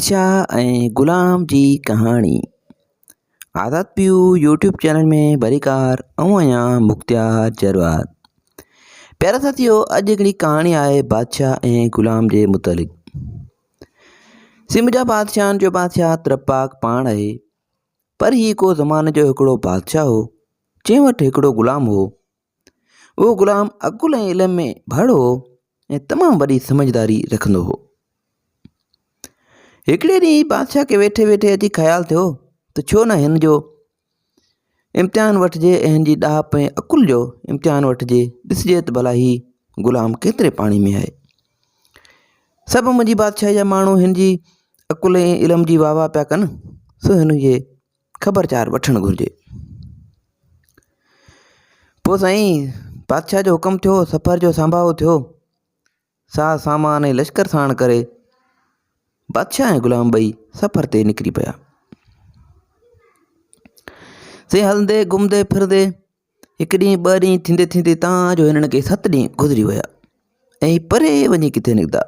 بادشاهه ۽ غلام جي ڪهاڻي آزاد پيو يوٽيوب چينل ۾ بريڪار ۽ اڃا مختيار جروار پيارا ساتھيو اڄ هڪڙي ڪهاڻي آهي بادشاهه ۽ غلام جي متعلق سم جا بادشاهن جو بادشاهه ترپاڪ پاڻ آهي پر هي ڪو زماني جو هڪڙو بادشاهه هو جنهن وٽ هڪڙو غلام هو اهو غلام عقل ۽ علم ۾ ڀڙ هو ۽ تمام وڏي سمجھداري رکندو هو. هڪڙي ڏينهن بادشاهه کي ويٺي ويٺي اچي خيال ٿيو ته ڇو نه هن جو امتحان وٺجي ۽ هن جي ڏاهپ ۽ عقل جو امتحان وٺجي ڏسجي ته ڀلا هي غلام ڪيتري پاڻي ۾ آهي. سڀ منهنجي بادشاهي جا ماڻهو هن جي عقل ۽ علم جي واهه واهه پيا ڪن سو هن جي خبرچار وٺڻ گهرجي. پوء سائين بادشاهه جو حڪم ٿيو، سفر جو سانباهو ٿيو، ساز سامان ۽ لشڪر ساڻ ڪري بادشاهه ۽ غلام ٻئي سفر تي نڪري پيا. سائين هلندي گهمندي ڦرندي هڪ ڏينهن ٻه ڏينهن ٿيندي ٿيندي تان جو هنن کي ست ڏينهن گذري ويا ۽ پري وڃي ڪٿي نڪتا.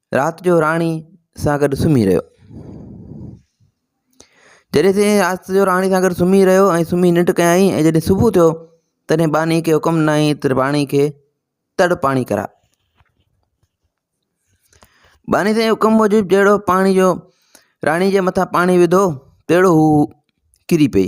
رات جو راڻي سان گڏ سمهي رهيو جڏهن سين رات جو راڻي سان گڏ سمهي رهيو ۽ سمهي ننڊ ڪيائين ۽ جڏهن صبح ٿيو تڏهن ٻانهي کي حڪم ڏنائين ته راڻي کي تڙ پاڻي ڪراء ٻانهي سين حڪم موجب جهڙو پاڻي جو راڻي جي مٿان پاڻي وڌو تهڙو هو ڪري پئي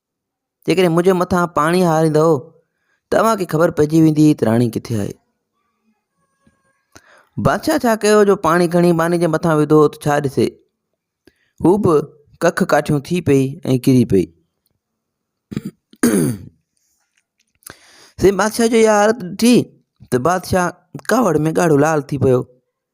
جيڪڏهن منهنجي مٿان پاڻي هاريندؤ ته اوهان کي خبر پئجي ويندي ته راڻي ڪٿي آهي بادشاهه ڇا ڪيو جو پاڻي کڻي ٻاني جي مٿان وڌو ته ڇا ڏسي هو به ڪک ڪاٺيون ٿي پئي ۽ ڪري پئي سي بادشاهه جو اها حالت ڏٺي ته بادشاهه ڪاوڙ ۾ ڳاڙهو لال ٿي پيو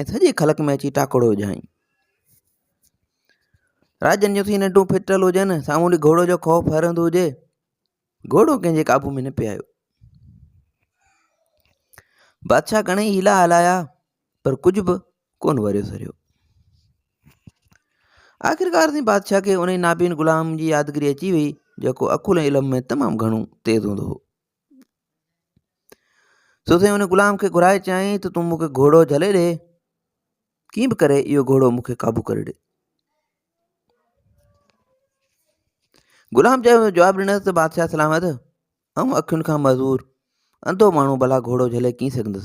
۽ سڄي خلق ۾ اچي ٽاڪڙو وجهائين. راڄن جون ٿي ننڊون ڦٽل هجن، سامهون ڏي گهوڙو جو خوف هرندو هجي، گهوڙو ڪنهن جي قابو ۾ نه پئي آيو. بادشاهه گهڻئي حيلا هلايا پر ڪجهه به ڪون وريو سريو. آخرڪار تائين بادشاهه کي انهي نابين غلام جي يادگيري اچي وئي، جيڪو عقل ۽ علم ۾ تمام گهڻو تيز هوندو هو. سو سائين ان غلام کي گهرائي چيائين ته تون مون کي گهوڙو جهلي ڏي ڪيئن به ڪري اهو گهوڙو مون کي قابو ڪري ڏي غلام چيو جواب ڏنس ته بادشاهه سلامت آئون اکين کان معذور انڌو ماڻهو ڀلا گهوڙو جهلي ڪيئن سگهندس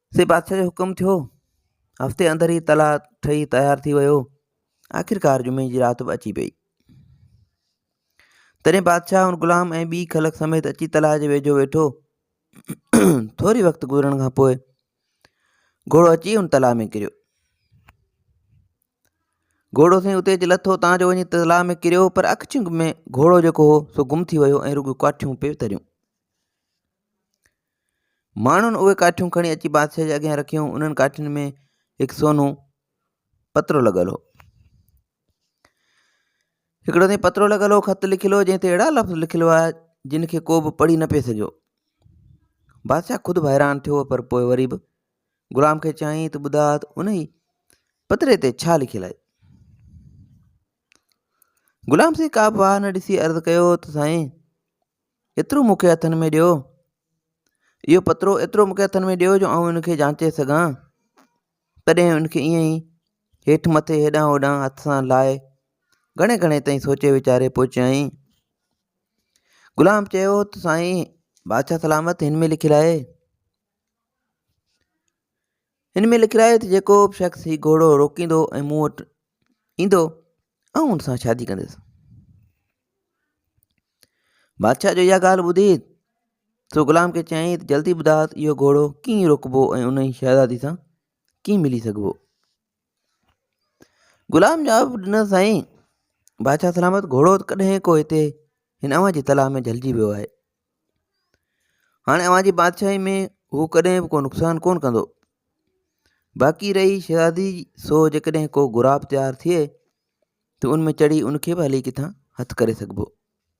سي بادشاهه جو حڪم ٿيو هفتي اندر ئي تلاء ٺهي تيار ٿي ويو آخرڪار جمعي جي رات به اچي پئي تڏهن بادشاهه هن غلام ۽ ٻي خلق سميت اچي تلاء جي ويجهو ويٺو ٿوري وقت گذرڻ کان پوء گهوڙو اچي هن تلاء ۾ ڪريو گهوڙو سائين اتي اچي لٿو تان جو وڃي تلاء ۾ ڪريو پر اک چنگ ۾ گهوڙو جيڪو هو سو گم ٿي ويو ۽ رڳو ڪاٺيون پيو تريون ماڻهن اهي ڪاٺيون کڻي اچي بادشاهه جي اڳيان رکيون انهن ڪاٺين ۾ هڪ سونو پترو لڳل هو هڪڙو تي پترو لڳل هو خط لکيل هو جنهن تي اهڙا لفظ لکيل هئا جن کي ڪو به پڙهي نه پئي سگهيو بادشاهه خود به حيران ٿيو پر پوء وري به غلام کي چيائين ته ٻڌا ته ان ئي پتري تي ڇا لکيل آهي غلام سائين ڪا به واهه نه ڏسي عرض ڪيو ته سائين ايترو مون کي هٿن ۾ ڏيو. اهو پترو ايترو مون کي هٿن ۾ ڏيو جو آئون ان کي جانچي سگهان. تڏهن ان کي ائين ئي هيٺ مٿي هيڏانهن هوڏانهن هٿ سان لاهي گهڻي گهڻي تائين سوچي ويچاري پوء چيائين. غلام چيو ته سائين بادشاهه سلامت هن ۾ لکيل آهي. هن ۾ لکيل آهي ته جيڪو به شخص هي گهوڙو روڪيندو ۽ مون وٽ ايندو آئون هن سان شادي ڪندس بادشاهه جو اها ڳالهه ٻڌي سو غلام کي چيائين ته جلدي ٻڌاء اهو گهوڙو ڪيئن روڪبو ۽ ان شهزادي سان ڪيئن ملي سگهبو غلام جواب ڏنس سائين بادشاهه سلامت گهوڙو ڪڏهن ڪو هتي هن اوهان جي تلاء ۾ جهلجي ويو آهي هاڻي اوهان جي بادشاهي ۾ هو ڪڏهن به ڪو نقصان ڪونه ڪندو باقي رهي شهزادي سو جيڪڏهن ڪو غراب تيار ٿئي ته ان ۾ چڙهي ان کي به هلي ڪٿان هٿ ڪري سگهبو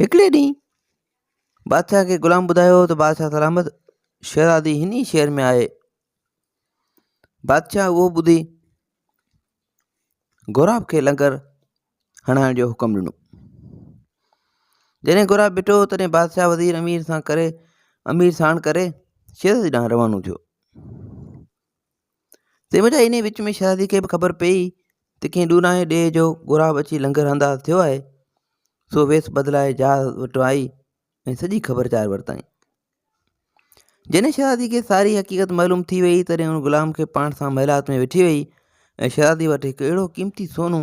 هڪڙي ڏينهن بادشاهه کي غلام ٻڌايو ته بادشاهه سلامت شهزادي هن ئي شهر ۾ آهي بادشاهه اهو ٻڌي غوراب کي لنگر هڻائڻ جو حڪم ڏنو جڏهن غوراب ڏٺو تڏهن بادشاهه وزير امير سان ڪري امير ساڻ ڪري شهزادي ڏانهن روانو ٿيو تنهن وجهه انهيء وچ ۾ شهزاديء کي به خبر پيئي ته ڪنهن ڏورانهين ڏيهه جو غراب اچي لنگر انداز ٿيو آهي، سو ويس بدلائي جهاز وٽ آئي ۽ سڄي خبر چار ورتائين. جڏهن شهزاديء کي ساري حقيقت معلوم ٿي ويئي، تڏهن ان غلام کي پاڻ سان محلات ۾ وٺي ويئي ۽ شهزاديء وٽ هڪ اهڙو قيمتي سونو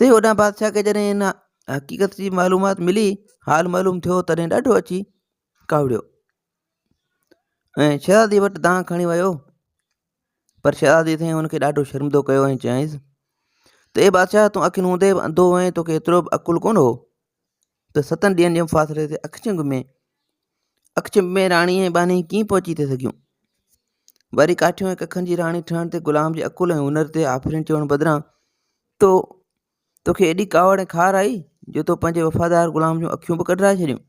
سي اوڏانهن بادشاهه کي جڏهن ان حقيقت جي معلومات ملي حال معلوم ٿيو تڏهن ڏاڍو اچي ڪاوڙيو ۽ شهزادي وٽ دانهن کڻي ويو پر شهزادي سائين هن کي ڏاڍو شرمندو ڪيو ۽ چيائينس ته اي بادشاهه تون اکين هوندي به انڌو هئين توکي ايترو به عقل ڪونه هو ته ستن ڏينهن جي مفاصلي تي اکچنگ ۾ اکچنب ۾ راڻي ۽ ٻانهي ڪيئن پهچي ٿي سگهيون؟ وري ڪاٺيون ۽ ڪکن جي راڻي ٺهڻ تي غلام جي عقل ۽ هنر تي آفرين چوڻ بدران تو توکي ايڏي ڪاوڙ ۽ کار آئي جو تو پنهنجي وفادار غلام جون اکيون به ڪڍرائي ڇڏيون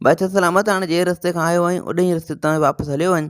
بادشاهه سلامت هاڻي جنهن رستي کان آيو آهين اڏهين رستي تان واپس هليو وڃ